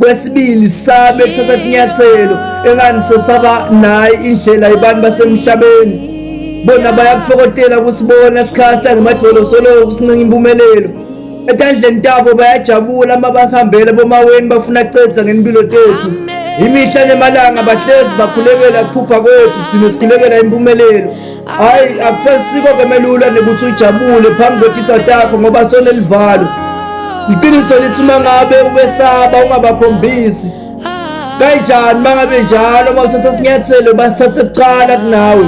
kwesibili sabe kuthatha kunyathelo engani sesaba nayi indlela abantu basemhlabeni bona bayakuthokotela kusibona sikhahla ngemadolo soloko kusincinga impumelelo etandleni tabo bayajabula uma basihambele bomaweni bafuna cedza ngempilo tethu imihla nemalanga bahlezi bakhulekela kuphupha kwethu thina sikhulekela impumelelo Hayi akusasiko ke melula nekuthi ujabule phambi kwetitha takho ngoba sonelivalo. Iqiniso lithi uma ngabe ubesaba ungabakhombisi. Kanjani mangabe njalo uma uthatha sinyathelo basithathe kuqala kunawe.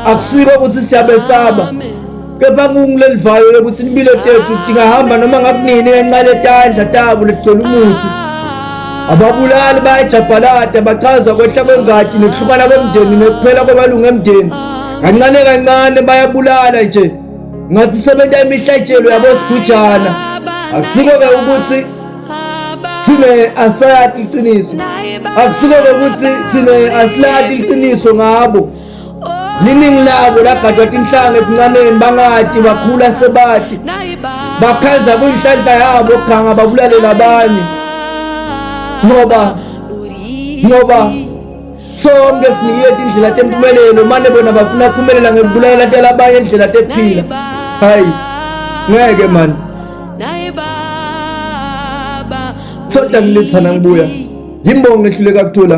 Akusiko ukuthi siyabesaba. kepha kungilelivayo lokuthi impilo tethu tingahamba noma ngakunini ngenqale tandla tabo ligcwele umuthi ababulali bayajabhalada bachaza kwehla kwengadi nokuhlukana komndeni nokuphela kwamalungu emndeni kancane kancane bayabulala nje ngathi sebenta imihlatshelo yabosigujana akusiko-ke ukuthi thina asayati iqiniso akusiko-ke ukuthi thina asilati iqiniso ngabo liningi labo lagadwa tinhlanga ebuncaneni bangati bakhula sebati bakhandza kuyinhlanhla yabo ganga babulalela abanye ngoba ngoba sonke siniyeti indlela tempumelelo mane bona bafuna kuphumelela ngekubulalela tela abanye indlela tekuphila hayi ngeke mani soda ngilithana ngibuya yimbongo ehluleka kuthula